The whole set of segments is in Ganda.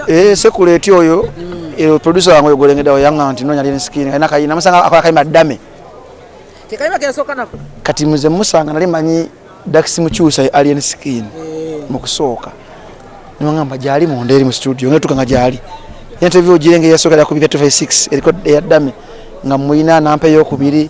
Eh, sekuleti oyo eh, producer wange oyo golengedawo yanga nti nonya lini skin alina kayina namusanga akola kayima dame kati muze musanga nali manyi dakisi mukyusa alien skin eh. mu kusooka nimwangamba gyali munda eri mu studio nga tukanga gyali interview ogirenge yasooka lya kubika 256 eriko eya dame nga muyina nampa eyokubiri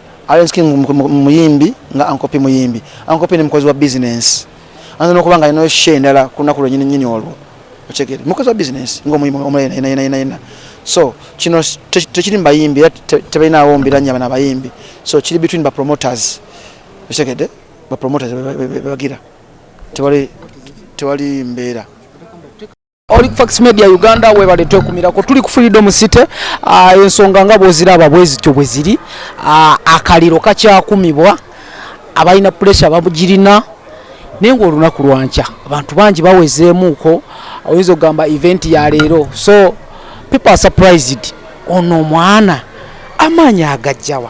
Alex King muyimbi nga Ankopi muyimbi. Ankopi ni mukozi wa business. Anza nokuba nga alinayo share endala ku lunaku lwenyini nyini olwo. Okitegedde? Mukozi wa business ng'omuyimbi omulala yenna yenna yenna yenna. So kino tekiri mu bayimbi era tebalinaawo mbiranye bana bayimbi. So kiri between ba promoters. Okitegedde? Ba promoters bebagira. Tewali tewali mbeera. Oli Fax Media Uganda webale twekumirako tuli ku Freedom City ah, ensonga nga bwoziraba bwezityo bwe ziri ah, akaliro kakyakumibwa abalina puresha babugirina naye ngaolunaku lwankya abantu bangi bawezeemuuko oyinza okugamba event ya leero so people are surprised ono omwana amaanyi agajjawa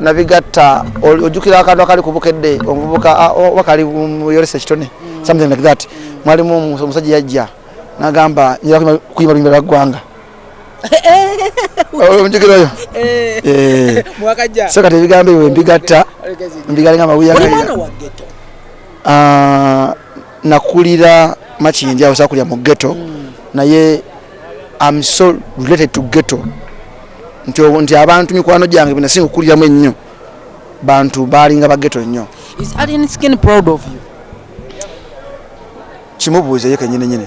nabigatta ojjukira akantu akali ku bukedde omuvubuka oba kali muyoresa ekitone mm. something like that mwalimu omusajja yajja nagamba njira kuyimba luyimba lwa ggwanga omujukira oyo eh. eh. so kati ebigambo ebyo mbigatta mbigalenga amawuya ah, nakulira makindya awo sakulira mu ghetto mm. naye am so related to ghetto nti nti abantu mikwano gyange benasinga okukuliramu ennyo bantu baalinga baghetto nnyo kimubuuza ye kenyini nyini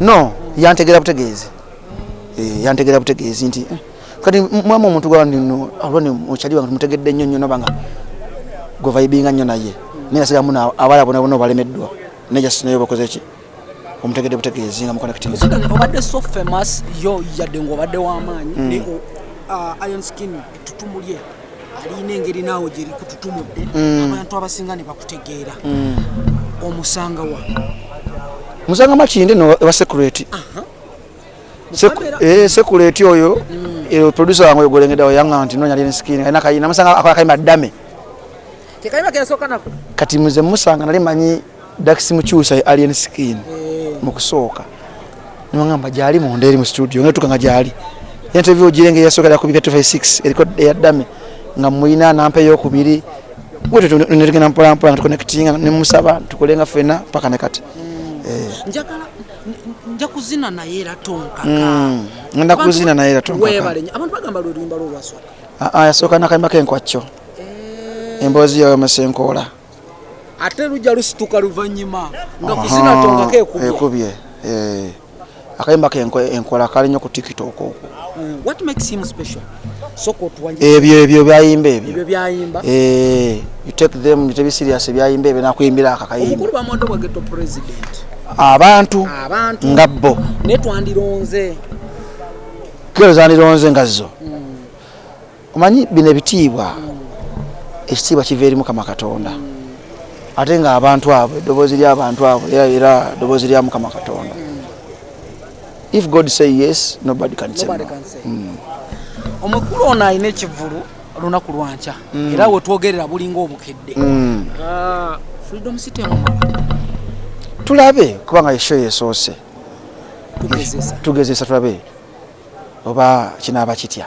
no yantegera butegeezi eh, yantegera butegeezi nti eh, kati mwamu omuntu gwanino alwani okyali bantu mutegedde nnyo nnyo nabanga gwevaibinga nnyo naye naye nasiga muna abala bona bona obalemeddwa naye just naye obakoze ki omutegedde butegeezi nga mukonekitiobadde so famous yo yadde ngaobadde wamaanyi mm. uh, iron skin etutumulye alina engeri naawe gye likututumudde mm. abantu abasinga ne bakutegeera mm. omusanga wa musanga makinde no ewa security eh, security oyo mm. eh, producer wange oyogolengedawo yanga nti nonya lini skin alina kayina musanga akola kayima dame kati muze musanga nali manyi Dax Mukyusa Alien Skin eh. mu kusooka newangamba gyali munda eri mu studio nga tukanga gyali interview girenge yasookera ku bika 256 eriko eyaddame nga mulina nampa eyokubiri wetyo netugenda mpolampola nga tuconnectinga nemusaba tukole nga fena paka ne kati hmm. eh. nja kuzina naye era tonkaka hmm. ngenda kuzina naye era tonkaka ah, ah, yasooka nakayimba kenkwakkyo eh. emboozi yoyo masenkoola ate lujja lusituka luvannyuma nga kuzina tongako ekubye eh, akayimba ke enkola kali nnyo ku tiktok okwo eh, ebyo ebyo byayimba ebyo eh, you take them bitebi serious byayimba ebyo nakuyimbira ako akayimba abantu nga bo netwandironze kero zandironze nga zo hmm. omanyi bino ebitiibwa ekitiibwa kiva eri mukama katonda ate nga abantu abo eddoboozi lyabantu abo era era eddoboozi lya mukama katonda if god say yes nobody can say no hmm. omukulu ono alina ekivulu lunaku lwankya hmm. era wetwogerera bulinga obukedde hmm. ah, freedom city tulabe kubanga esho yesoose tugezesa tulabe oba kinaaba kitya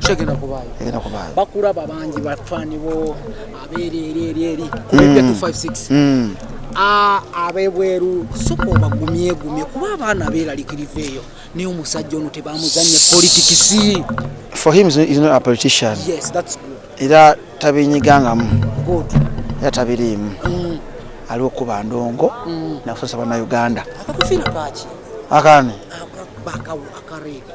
kyegenda kubaayo egenda kubaayo bakulaba bangi batwanibo abeereeri eri eri kubibya 256 abebweru soka obagumyegumye kuba abaana beeralikiriva eyo naye omusajja ono tebamuzanye politikisi for him is not a politician yes that's good era tabinyigangamu good era tabiriimu mm. aliwo kuba ndongo mm. nakusasa bana uganda akakufira kaki akani akareega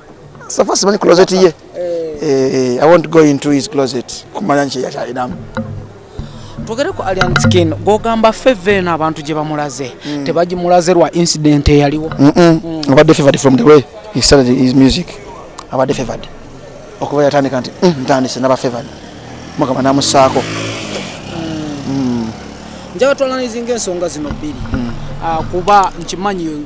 safa simanyi closet ye eh. Eh, i won't go into his closet kumanya nki yakyalinamu twogere ku alien skin gogamba feve eno abantu gye bamulaze mm. tebagimulaze lwa incident eyaliwo mm. abadde favored from the way he started his music abadde favored okuva yatandika nti mm, ntandise naba favored mukama namusaako njabatwalanizinga ensonga zino bbiri ah, kuba nkimanyi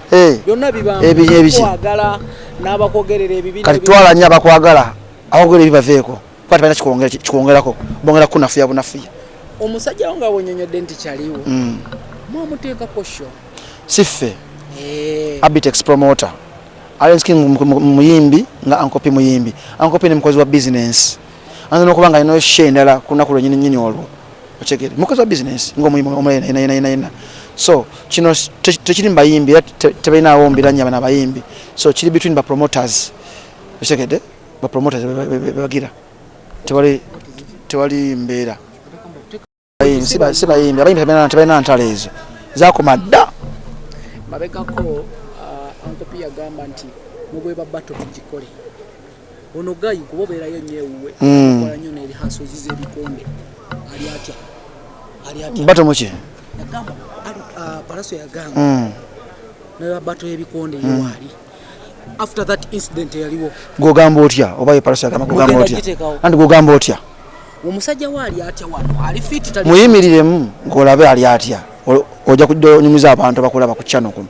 eh. byonna bibakwagala n'abakwogerera ebibi kati twala nnyo abakwagala abakwogerera ebibi baveeko kuba tebalina kikwongerako bongera kukunafuya bunafuya omusajja wo nga wonyonyodde nti kyaliwo mm. mwamuteeka kosho si ffe eh. abitex promoter alenskin muyimbi nga ankopi muyimbi ankopi ne mukozi wa bizinensi anza nokuba nga alinayo sha endala ku lunaku lwenyini nyini olwo okyegere mukozi wa bizinesi ngaomuyimuyenayena so kino tekiri mubayimbi era tebalinawo mbiranya bana abayimbi so kiri between ba promoters okyegede ba promoters bebagira tewali mbeera si bayimbi abayimbi tebalina ntalo ezo zakoma dda mabegako uh, ankopi yagamba nti mubweba bato tugikole ono gayi kuba obeerayo nnyo ewuwe hmm. kola nnyo nebihasozi zebikonde ali atya ali atya bato muki yagamba uh, palaso yagamba hmm. nebabato yebikonde yewaali hmm. after that incident yaliwo gogamba otya oba yeparasi agamba gogamba otya anti gogamba otya omusajja we ali atya wano ali fiti tali muyimiriremu ng'olabe ali atya ojja kujja onyumiza abantu abakulaba ku chano kuno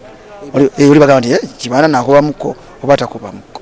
oli eh, bagamba nti eh, kibaana nakubamuko oba takubamuko